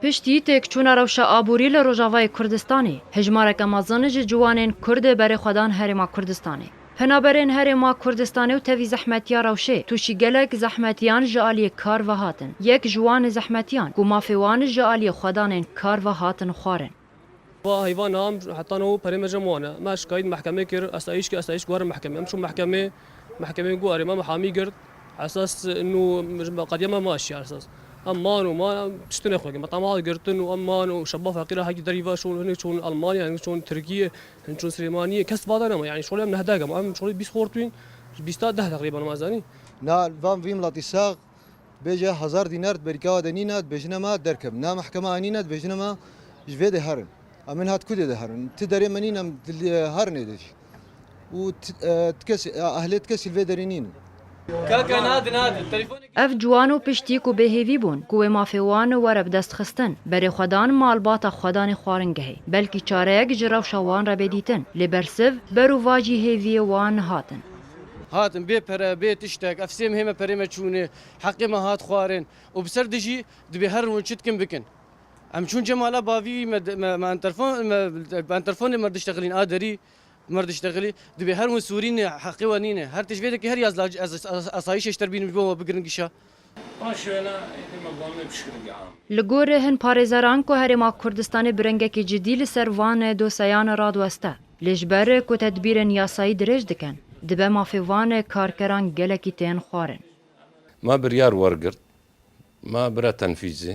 Piştî têkçûna rewşa aborî li Rojavayê Kurdistanê, hejmareke mezin ji ciwanên Kurd berê xwe dan Herêma Kurdistanê. Penaberên Herêma Kurdistanê û tevî zehmetiya rewşê tûşî gelek zehmetiyan ji aliyê kar ve hatin. Yek ji wan zehmetiyan ku mafê wan ji aliyê xwedanên kar ve hatin xwarin. Va heyva nam heta no perê me cem wan e. Me şikayît mehkemê kir, esayîş kir, esayîş guherî mehkemê. Em çûn mehkemê, mehkemê got erê me mihamî girt. Esas nû qediya me ma şîya esas. Em man û man em tiştî nexwegirin. Me tema hat girtin û em man û şeba feqîr e herkî derî va şûn. Hinek çûn Elmanya, hinek çûn Tirkiyê, hinek çûn Silêmaniyê. Kes va de nema. Yanî şolê em nehdeh gema. Em şolê bîst xortûyîn. Ji bîsta deh teqrîben ma zanî. Na van vî milatî sax. Bêje hezar dînar berîka we de nîne, dibêjine me derkevin. Na mehkema anîne dibêjine me ji vê dê herin. Em ên hat kudê de herin. Ti derê me nîn em herin êdê jî. Û ehlê ti kesî li vê derê nîn in. Kaka na di na di telefon. Ev ciwan û piştî ku bêhêvî bûn ku wê mafê wan were bi dest xistin, berê xwe dan malbata xwe danê xwaringehê. Belkî çareyek ji rewşa wan re bê dîtin. Lê bersiv ber û vacî hêviyê wan hatin. Hatin bê pere, bê tiştek, ev sêm hême perê me çûnê, heqê me hat xwarin û bi ser dijî dibê her rûn çi dikin bikin. Em çûn Cemala bavî me me enterfon me bi enterfonê me diştexilîn a derî me diştexilî dibê her rûn sûrînê heqê we nînê. Her tişt vê dikê her yaz lacê ez asayîşê ji ter bînim ji bo me bigirin gişa. Li gorî hin parêzeran ku Herêma Kurdistanê bi rengekî cidî li ser van doseyan radiweste. Lê ji ber ku tedbîrên yasayî dirêj dikin, dibe mafê van karkeran gelekî tên xwarin. Ma biryar wergirt, ma bira tenfîzê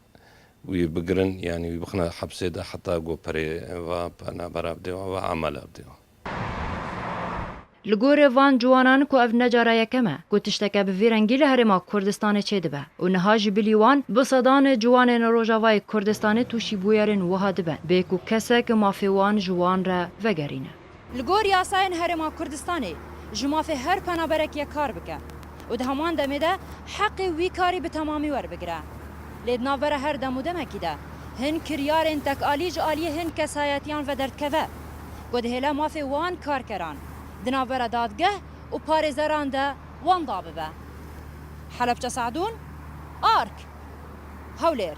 wî bigirin yanî wî bixine hepsê de heta ku perê va penabera bidê wan va emela bidê wan. Li gorî van ciwanan ku ev ne cara yekem e ku tişteke bi vî rengî li Herêma Kurdistanê çêdibe û niha ji bilî wan bi sedan ciwanên Rojavayê Kurdistanê tûşî bûyerên wiha dibe bê ku kesek mafê wan ji wan re vegerîne. Li gor yasayên Herêma Kurdistanê ji mafê her penaberek ye kar bike û di heman demê de heqê wî karî bi temamî werbigire. Lê di navbera her dem û demekî de hin kiryarên tekalî ji aliyê hin kesayetiyan ve derdikeve ku dihêle mafê wan karkeran di navbera dadgeh û parêzeran de wan da bibe. Helepçe Se'dûn, ark. Hewlêr.